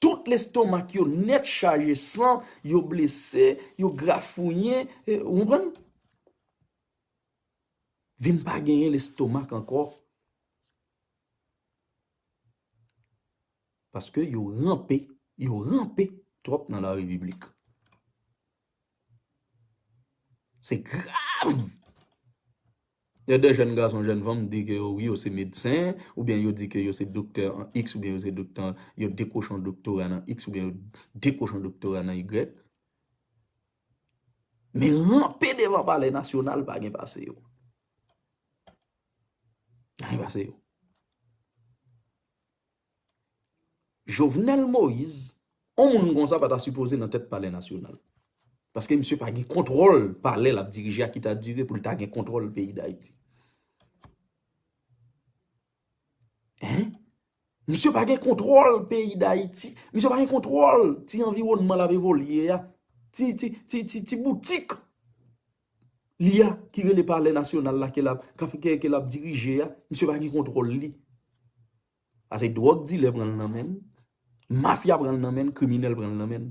[SPEAKER 1] Tout lestomak yo nèt chaje san, yo blese, yo grafouyen, ou konprann? Vin pa genyen lestomak ankò. Paske yo ranpe, yo ranpe twòp nan la repiblik. Se grav! Lè 2 jèn gason, jèn fanm di ke yo wi yo se medsen, oubyen yo di ke yo se doktè an iks oubyen yo se doktè an, yo dekwoche yon doktora nan iks oubyen yo dekwoche yon doktora nan igrèk, men ranpe devan palè nasyonal pa gen pase yo. Pa gen pase yo. Jovenel Moïse on moun konsa pa ta sipoze nan tèt palè nasyonal. Paske misye pa gen kontwòl palè lap dirije a ki ta dire pou li ta gen kontwòl peyi dayiti. Hein! Misye pa gen kontwòl peyi dayiti, misye pa gen kontwòl ti anviwònman lap evolye a, ti boutik. li a ki rele palè nasyonal la ke lap kap kè ke lap dirije a misye pa gen kontwòl li pase dwòg dilè pran l nan men l mafya pran l nan men l kriminèl pran l nan men l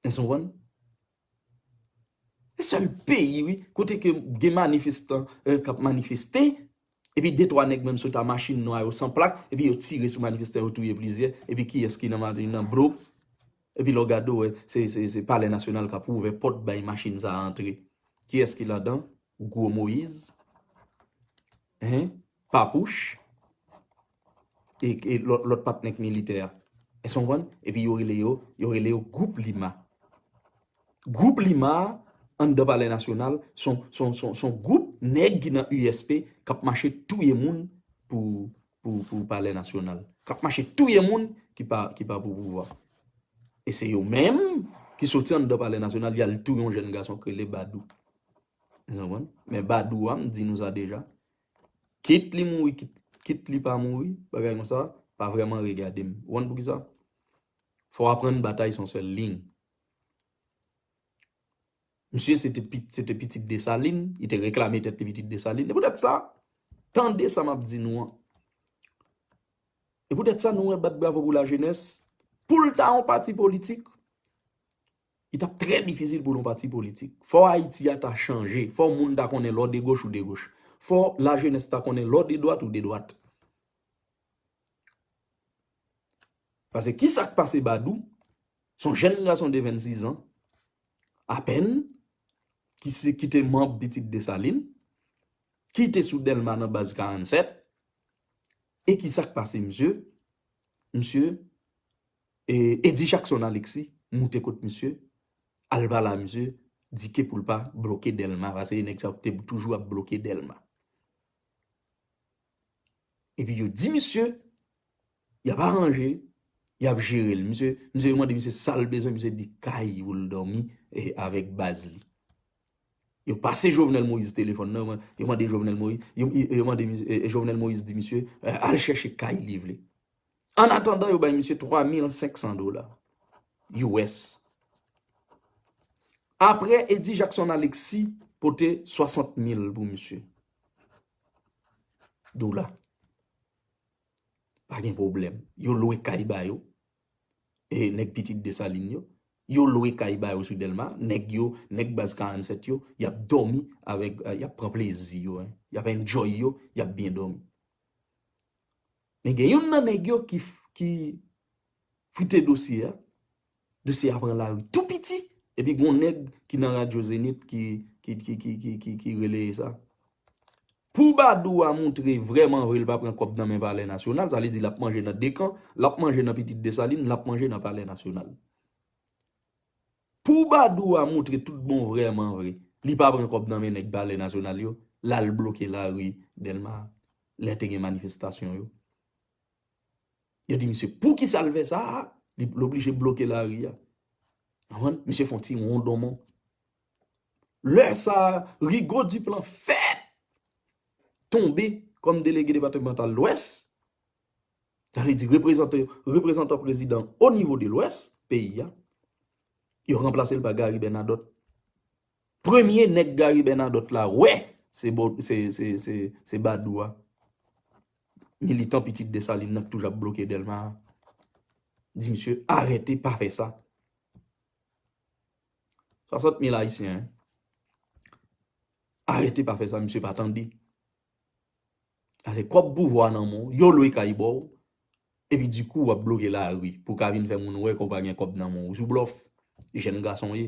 [SPEAKER 1] èske nou konprann se sèl peyi wi kote ke gen manifestan kap manifeste epi de twa nèg menm sot a machin nwa yo san plak epi yo tire sou manifestan yo touye plizyè epi kiyès ki nan machin nan bro. Epi lè w gade ou wè se palè nasyonal k ap ouvè pòt bay machin sa a antre. Kiyès ki ladan? Gwo Moyiz, hen, Papouch e lòt patnè k militè a. Èske w konprann? Epi yo rele yo, yo rele yo gwoup Lima. Gwoup Lima a anndan palè nasyonal s on gwoup nèg ki nan USP k ap mache touye moun pou palè nasyonal. Kap mache touye moun ki pa pou pouvwa. E se yo menm ki soti anndan palè nasyonal yal touye yon jèn gason ki rele Badou. Men Badou a m di nou sa deja, kit li mouri, kit li pa mouri, bagay kon sa, pa vreman regade m. Ou konn pou ki sa? Fò w aprann batay son sèl liy. Misye se te pitit Dessalines, li te reklame tèt li pitit Dessalines. E pou tèt sa, tande sa m ap di nou an. E pou tèt sa nou wè bat bravo pou la jenès, pou l ta yon pati politik, li t ap trè difisil pou l yon pati politik. Fò Ayiti a ta chanje, fò moun ta konnen lè w de goch ou de goch. Fò la jenès ta konnen lè w de dwat ou de dwat. Pase ki sa k pase Badou? Se yon jèn gason de 26 ans apèn ki te manb Pitit Desalin, ki te sou Dèlma nan baz 47, e ki sa k pase misye? Misye, Eddy Jackson Alexis moute kot misye, al pale a misye, di ke pou l pa bloke Dèlma, pase nèg sa yo te toujou ap bloke Dèlma. Epi yo di misye, y ap aranje, y ap jere l. Misye, misye yo mande misye sa l bezwen, misye di kay pou l dòmi e avèk baz li. Yo pase Jovenel Moïse telefòn nan, yo mande Jovenel Moïse, yo mande misye, Jovenel Moïse di misye, al chèche kay li vle. An atandan yo bay misye 3500 dola US. Aprè Eddy Jackson Alexis pote 60 mil pou misye. dola pa gen pwoblèm yo lwe kay ba yo e nèg pitit desalin yo yo lwe kay ba yo sou delma nèg yo nèg baz 47 yo yap dòmi avèk yap pran plezi yo yap enjoy yo yap byen dòmi men gen youn nan nèg yo ki frite dosye a Dosye a pran lari tou piti epi gon nèg ki nan radyo Zenith ki rele e sa. Pou Badour a moutre vrèman vre li pa pran kòb nan men palè nasyonal, sa vle di l ap manje nan 2 kan, l ap manje nan pitit Desalin, l ap manje nan palè nasyonal. Pou Badour a moutre tout bon vrèman vre li pa pran kòb nan men nèg palè nasyonal yo, l al bloke lari Dèlma lè te gen manifestasyon yo. Yo di misye poukisa l fè sa, li oblije bloke lari a. Misye fon ti won donmon. Lè sa, Rigaud Duplan fè tonbe kòm delege departemental lwès. Sa vle di reprezantan prezidan o nivo de lwès peyi a. Yo ranplase l pa Gary Bernadotte. Premye nèg Gary Bernadotte la wè se Badou a. Militan pitit Dessalines nan ki toujou ap bloke Delma a. Di misye arete pa fè sa. 60 mil ayisyen arete pa fè sa misye pa tande. Ase kòb pouvwa nan men w, yo lwe kay ba w, epi di kou w ap bloke lari pou w ka vin fè moun wè ke w pa gen kòb nan men w. Ou sou blòf, jèn gason w ye.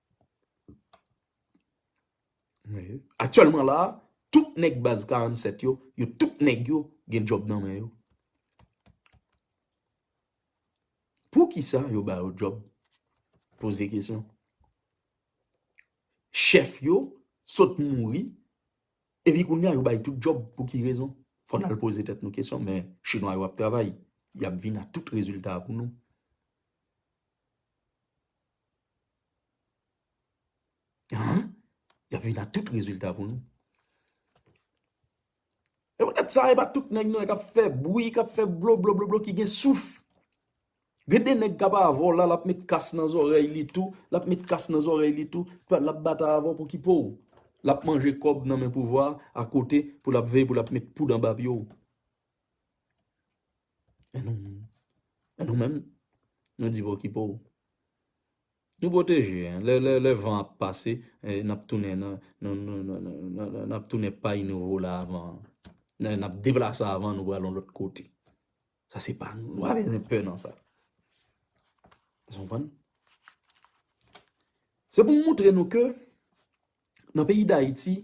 [SPEAKER 1] Aktyèlman la, tout nèg baz 47 yo, yo tout nèg yo gen djòb nan men yo. Poukisa yo ba yo djòb? Poze kesyon. Chèf yo sot mouri, epi kounye a yo bay tout djòb pou ki rezon? Fò n al poze tèt nou kesyon, men chinwa yo ap travay, y ap vin ak tout rezilta pou nou. Haa, yap vin ak tout rezilta pou nou. E pou tèt sa, e pa tout nèg nan kap fè bwi, kap fè bloblobloblo ki gen souf. Gen de nèg kap avò la, lap met kas nan zòrèy li tou, lap met kas nan zòrèy li tou, pè lap batay avò pou ki pouw. Lap manje kòb nan men pouvwa, akote pou lap veye pou lap met poud anba pye ou. E nou menm? E nou menm? Nou di bon ki pou ou. Nou pwoteje, lè van ap pase, n ap tounen n ap tounen pay nou vola avan an. N ap deplase avan nou pral yon lòt kote. Sa se pa nou, nou pa bezwen pè nan sa. Ou konprann? Se pou m montre nou ke nan peyi dayiti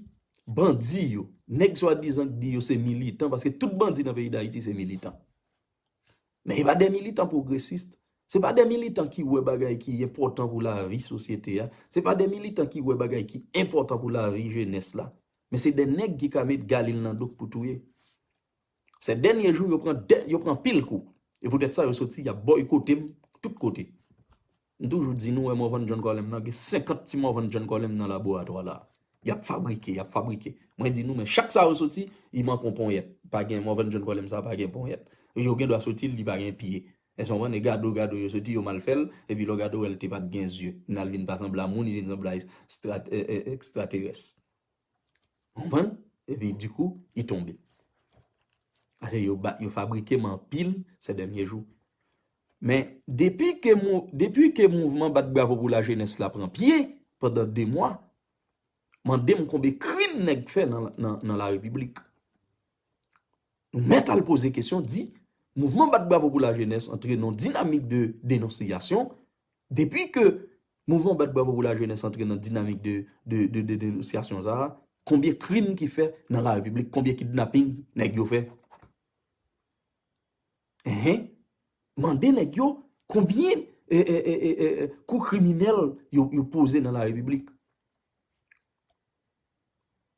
[SPEAKER 1] bandi yo nèg swadizan k di yo se militan paske tout bandi nan peyi dayiti se militan men e pa de militan pwogresis se pa de militan ki wè bagay ki enpòtan pou lavi sosyete a se pa de militan ki wè bagay ki enpòtan pou lavi jenès la men se de nèg ki ka met galil nan do pou touye sè dènye jou yo pran dè yo pran pil kou e poutèt sa yo soti y ap bòykote m tout kote. M toujou di nou wè Morvan John Colem nan gen 50 ti Morvan John Colem nan laboratwa la. Y ap fabrike, y ap fabrike. Mwen di nou men chak sa yo soti, li manke yon ponyèt. Pa gen Morvan John Colem sa pa gen ponyèt. Yo gen dwa soti li pa gen pye. Èske w konprann? E gade w, gade w yo soti yo mal fè l, epi lè w gade w wè l te pa t gen zye. Nan l vin pa sanble a moun, li vin sanble a ekstraterès. Konprann? Epi dikou, li tonbe. Ase yo ba, yo fabrike m anpil se dènye jou. Men, depi ke mou, depi ke mouvman bat bravo pou la jenès la pran pye, pandan 2 mwa, mande m konbe krim nèg fè nan, nan, nan la repiblik. Nou mèt al poze kesyon, di, mouvman bat bravo pou la jenès antre nan dinamik de denonsiyasyon, Depi ke Mouvman Bat Bravo Pou Lajenès antre nan dinamik de denonsyasyon sa a, konbyen krim ki fè nan lari piblik, konbyen kidnaping nèg yo fè? Enhen, mande nèg yo konbyen kou kriminèl yo poze nan lari piblik?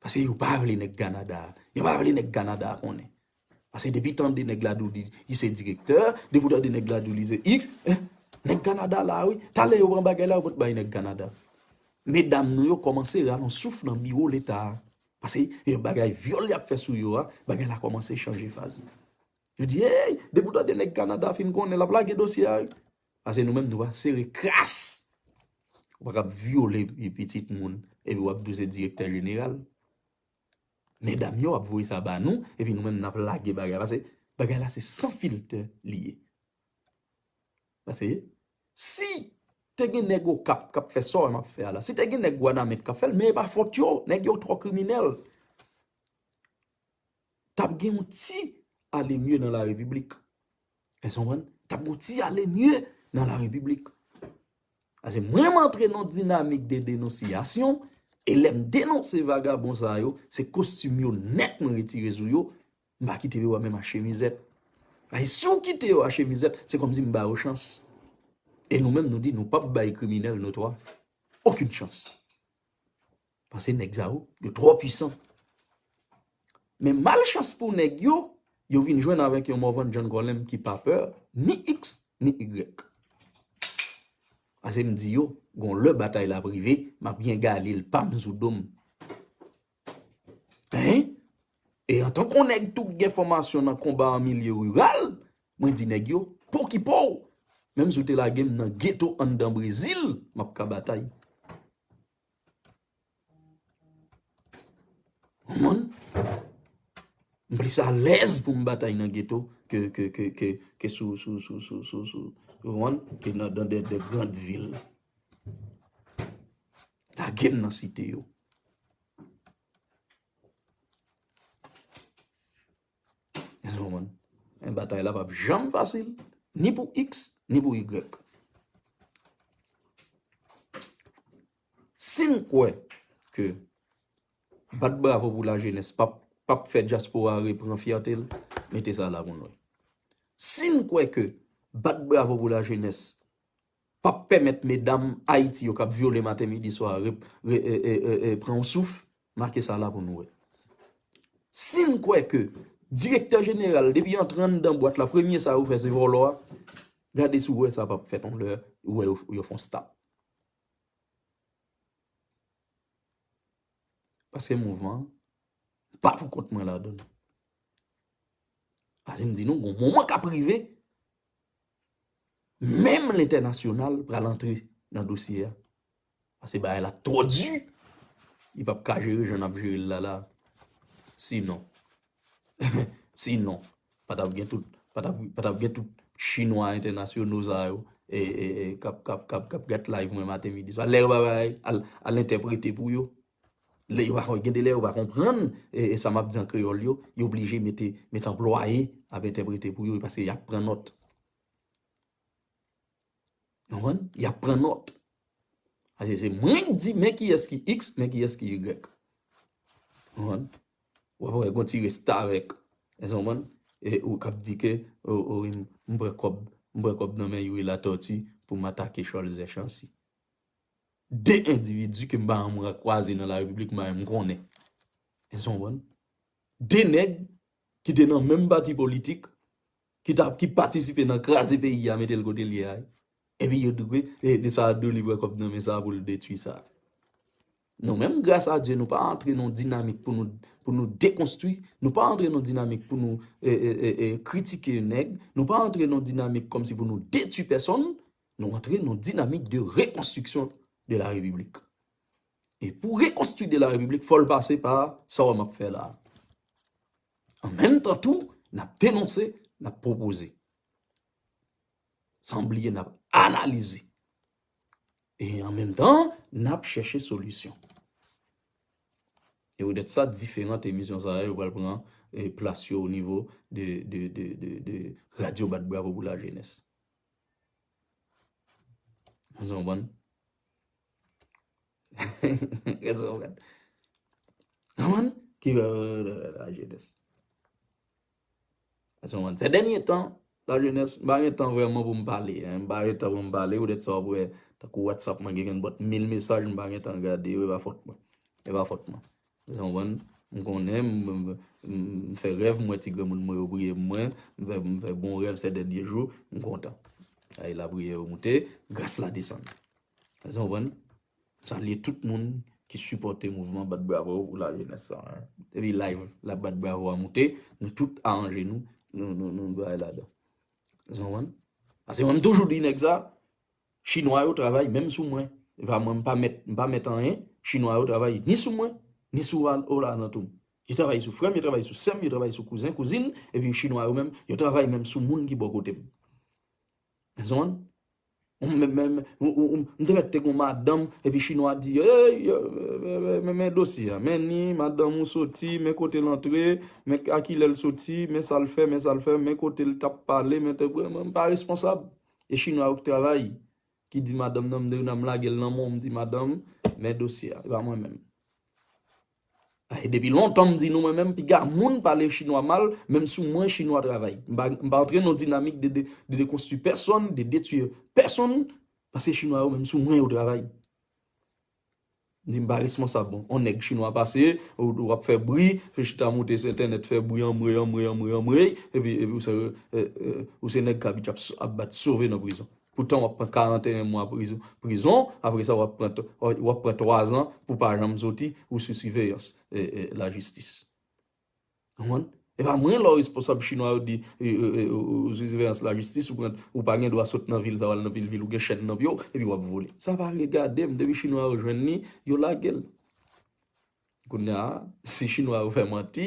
[SPEAKER 1] Pase yo pa vle nèg Kanada a. Yo pa vle nèg Kanada a konnen. Pase depi tande nèg la di w di li se direktè, depi w tande nèg la di w li se iks, eh! Nèg Kanada la wi. Talè yo pran bagay la yo pot bay nèg Kanada. Medam nou yo kòmanse ralon souf nan biwo leta a. Pase yo bagay vyòl y ap fè sou yo a, bagay la kòmanse chanje faz. Yo di, ey! Depi w tande nèg Kanada fin konnen l ap lage dosye a wi. Pase nou menm nou pa sere kras. Ou pa kab vyole pi pitit moun epi wap di ou se direktè jeneral. Medam yo ap voye sa ba nou epi nou menm nap lage bagay pase bagay la se san filtè li ye. Pase si te gen nèg okap kap fè sa ou menm wap fè a la, si te gen nèg wanament kap fèl men e pa fòt yo, nèg yo twò kriminèl. Tap gen yon ti alemye nan la repiblik. Èske nou konprann? T ap gen yon ti ale nye nan la repiblik. Pase mwen m antre nan yon dinamik de denonsiyasyon, e lè m denonse vagabon sa yo, se kostim yo nèt mwen retire sou yo, m pa kite yo a menm a chemizèt. Pase si w kite yo a chemizèt, se kòmsi m ba yo chans. E nou menm nou di nou p ap bay kriminèl notwa okin chans. Pase nèg sa yo, yo twò pwisan. Men malchans pou nèg yo, yo vin jwenn avèk yon Morvan John Colem ki pa pè ni X ni Y. Pase m di yo, gon lè batay la ap rive, m ap gen Galil pa m sou do m. Hein? E antan kon nèg tou k gen fòmasyon nan konba an milye riral, mwen di nèg yo, pokipo w! Menm si w te lage m nan geto anndan Brezil, m ap ka batay. Moun, m plis alèz pou m batay nan geto ke sou wonn, ke nan dan de grand vil. Lage m nan site yo. Men batay la pap janm fasil ni pou x ni pou y. Sim kwè ke bat bravo pou la jenès pap fè dyaspora repran fyète l, mete sa la pou nou. Sim kwè ke bat bravo pou la jenès Pap pèmèt medam Ayiti yo kap vyole maten midi swa pran yon souf, make sa la pou nou wè. Si n kwè ke direktè jeneral depi antre anndan bwat la premye sa yo fè se vòlò a, gade si w wè sa pap fèt yon lè ou wè yo fon stop. Paske mouvman an pa pou kont mwen ladan l. Paske m di nou gon moman kap rive. Menm lentènasyonal pral antre nan dosye a. Pase bagay la twò di. Li pap ka jere jan nap jere l la la. Si non. Si non. Pa tap gen tout. Pa tap gen tout chinwa entènasyono sa yo. E kap kap kap kap gat live mwen maten midi swa. Lè yo pa bay. Al entèprete pou yo. Lè yo pa kon, gen de lè yo pa konprann sa m ap di an kreyòl yo, yo blije mete, mete anplwaye ap entèprete pou yo paske y ap pran nòt. Ou konprann? Y ap pran nòt. Paske se mwen k di men kiyès ki x, men kiyès ki y. Ou konprann? Ou ap wè gon ti restavèk, èske w konprann, e ou k ap di ke o, o, m pran kòb, m pran kòb nan men Youri Latortue pou m atake Cholzè Chancy. 2 endividi ke m pa janm kwaze nan la repiblik men m konnen. Èske nou konprann? 2 nèg ki te nan menm pati politik, ki ta ki patisipe nan kraze peyi a mete l kote l ye a, epi yo di ke sa a delivre kòb nan men sa a pou l detui sa a. Nou menm gras a Dye nou pa antre nan yon dinamik pou nou pou nou dekonstwi, nou pa antre nan yon dinamik pou nou e e e kritike nèg, nou pa antre nan yon dinamik kòmsi pou nou detui pèsonn, Nou antre nan yon dinamik de rekonstriksyon de la repiblik. E pou rekonstri de la repiblik fò l pase pa sa wè m ap fè la a. An menm tan tou, n ap denonse, n ap pwopoze. San bliye n ap analize. E an menm tan, n ap chèche solisyon. E poutèt sa, diferant emisyon sa yo pral pran plas yo o nivo de radyo bat bravo pou lajenès. Sè dènye tan, la jenès, m pa gen tan vreman pou m pale, m pa gen tan pou m pale, ou det sa w wè, tankou WhatsApp mwen gen gen bòt mil mesaj, m pa gen tan gade yo, e pa fòt mwen, e pa fòt mwen. Eske w konprann? M konnen, m fè rèv, m wè ti granmoun mwen yo priye pou mwen, m fè bon rèv sè dènye jou, m kontan. Ay lapriyè yo moute, gras la desann. Eske w konprann? M salye tout moun ki sipòte mouvman bat bravo pou lajenès sa a. Epi live la bat bravo a moute, nou tout aranje nou, nou bay ladan. Eske w konprann? Paske mwen m toujou di nèg sa, Chinwa yo travay menm sou mwen va mwen mpa mèt mpa mèt anyen chinwa yo travay ni sou mwen ni sou Rolland an tou yo travay sou frèm yo travay sou sèm yo travay sou kouzen kouzin epi chinwa yo menm yo travay menm sou moun ki bò kotem mezann m menm menm m te mèt te gon madanm epi chinwa di eeyy men men dosye a men ni madanm ou soti men kotel antre men akilèl soti men sal fè men sal fè men kotel tap pale men mpa responsab. E chinwa yo k travay ki di madanm nan m de nan m lagel nan menw m di madanm men dosye a e pa mwen menm a e depi lontan m di nou mwen menm piga moun pale chinwa mal menm sou mwen chinwa travay m pa m pa antre nan dinamik de de dekonstwi pèsonn de detwi pèsonn pase chinwa yo menm sou mwen yo travay. Di m pa responsab bon. On nèg chinwa pase, ou ap fè bri, ou chita moute sou entènèt fè bri anmwey anmwey anmwey anmwey, epi epi ou se ou se nèg k abitye ap bat sove nan prizon. Poutan w ap pran 41 mwa prizon prizon, apre sa w ap pran w ap pran 3 zan pou w pa janm soti ou sou siveyans lajistis. E pa mwen lò responsab chinwa yo di ou sou siveyans lajistis ou pa gen dwa sot nan vil sa w al nan vil vil ou gen chèn nan pye w epi w ap vole. Sa pa regade m depi chinwa yo jwenn li yo lage l. Kounye a si chinwa yo fè manti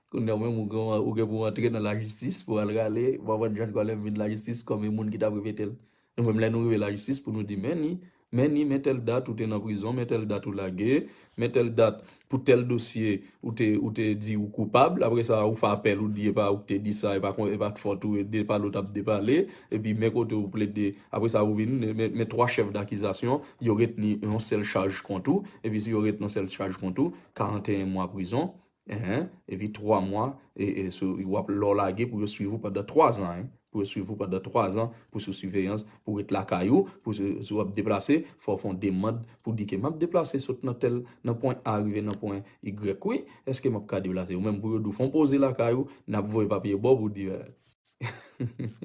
[SPEAKER 1] kounye a ou menm ou gen pou w antre nan lajistis pou w al rale w pa konn jan n kòlè m vin lajistis kòm yon moun ki t ap repete l. Nou menm lè nou rive lajistis pou nou di men ni, men ni men tèl dat ou te nan prizon, men tèl dat ou lage, men tèl dat pou tèl dosye ou te ou te di ou koupab, aprè sa ou fè apèl ou di epa ou k te di sa epa kon epa t fòt ou e de pale ou t ap depale, epi men kote ou plede aprè sa ou vin men twa chèf dakizasyon yo retni yon sèl chaj kont ou, epi si yo retni yon sèl chaj kont ou 41 mwa prizon, Ehe epi 3 mwa e e sou wap lè w lage pou yo swiv ou pandan 3 zan hein pou yo swiv ou pandan 3 zan pou sou siveyans pou ret lakay ou pou sou si wap deplase fò w fè yon demand pou di ke map deplase sot nan tèl nan pwen A rive nan pwen Y wi eske map ka deplase ou menm pou yo di w fon poze lakay ou nap voye papye ba w pou w di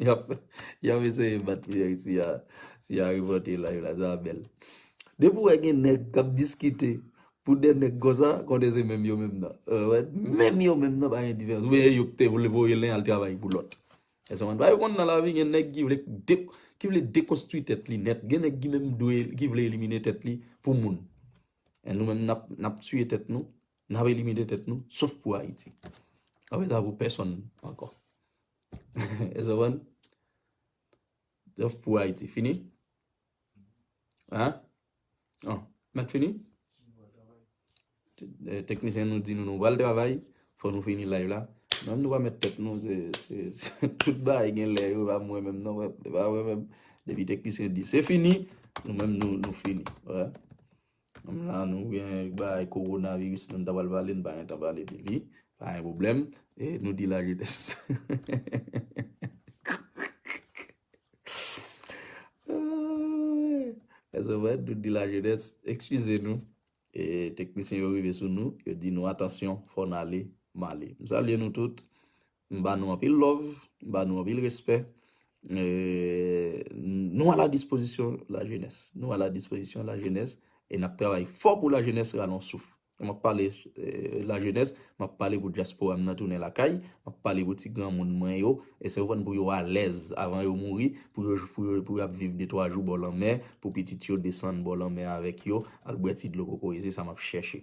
[SPEAKER 1] Yap eseye bat priyè si a repote live la sa bel. Depi ou wè gen nèg kap diskite pou 2 nèg konsa konnen se menm yo menm nan. Menm yo menm nan pa gen diferans. Ou veye yo te vle voye len al travay pou lòt. Èske ou konprann? Sa yo konn nan lavi gen nèg ki vle ki vle dekonstwi tèt li nèt. Gen nèg ki menm dwe ki vle elimine tèt li pou moun. E nou menm nap tiye tèt nou. Nap elimine tèt nou sof pou Ayiti. Nap fè sa pou pèsonn ankò. Èske ou konprann? Sof pou Ayiti. Fini? An? An. Nap fini? Teknisyen nou di nou nou pral travay. Fò nou fini live la. Nan nou pa met tèt nou se tout ba e gen lè yo pa mwen menm nan. Mwen pa mwen menm. Depi teknisyen di se fini. Nou menm nou fini. An? Menm la nou gen bagay korona viris nou ta pral pale nou pa gen tan pale de li pa gen pwoblèm e nou di la jenès ekskize nou e teknisyen yo rive sou nou yo di nou atansyon fò n ale m ale m salye nou tout M ba nou anpil love, m ba nou anpil respè. Nou a la dispozisyon la jenès. Nou a la dispozisyon la jenès e n ap travay fò pou la jenès ralon souf. M ap pale la jenès, m ap pale pou dyaspora m nan tounen lakay, m ap pale pou ti granmoun mwen yo, èske ou konprann, pou yo alèz avan yo mouri, pou yo ap viv de twa jou bò lanmè, pou pitit yo desann bò lanmè avèk yo, al bwè ti dlo kokoye. Se sa m ap chèche.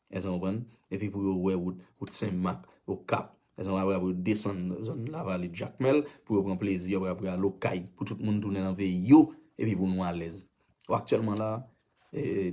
[SPEAKER 1] Èske nou konprann? Epi pou yo wè wout, wout Sen Mak, Okap. Èske nou konprann? Apre sa pou yo desann zòn Lavalit, Jakmèl, pou yo pran plezi yo, apre sa pou yo al Okay, pou tout moun tounen nan peyi yo, epi pou nou alèz. Bon, aktyèlman la,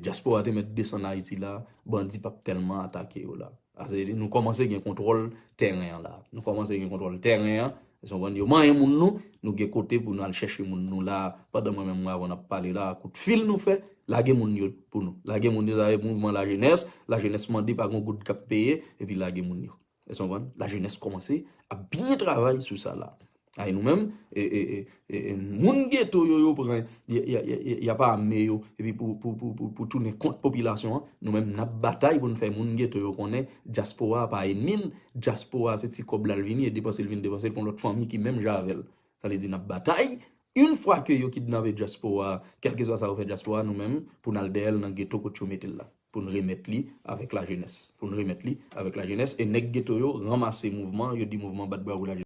[SPEAKER 1] dyaspora te mèt desann Ayiti la, bandi pa p tèlman atake yo la. Sa vle di, nou kòmanse gen kontwòl tèren an la. Nou kòmanse gen kontwòl tèren an, Èske nou konprann? Yo manyen moun nou, nou gen kote pou nou al chèche moun nou la, pandan mwen menm mwen avè w n ap pale la, kout fil nou fè, lage moun yo pou nou. Lage moun yo avèk mouvman lajenès, lajenès mande pa gen yon goud k ap peye, epi lage moun yo. Èske nou konprann? Lajenès kòmanse ap byen travay sou sa la. A e nou menm, e, e, e, e, e, moun geto yo yo pran, y, y, y, y, y ap ame yo, epi pou, pou, pou, pou, pou tounen kont popilasyon an, nou menm n ap batay pou n fè moun geto yo konnen dyaspora a pa enmi n, Dyaspora se ti kòb la l vini e depanse l vin depanse l pou yon lòt fanmi ki menm jan avè l. Sa vle di n ap batay. Yn fwa ke yo kidnape dyaspora a, kèlkeswa sa yo fè dyaspora a, nou menm pou n al dèyè l nan geto kot yo mete l la. Pou n remèt li avèk lajenès. Pou n remèt li avèk lajenès e nèg geto yo ranmase mouvman, yo di mouvman bat bravo lajenès.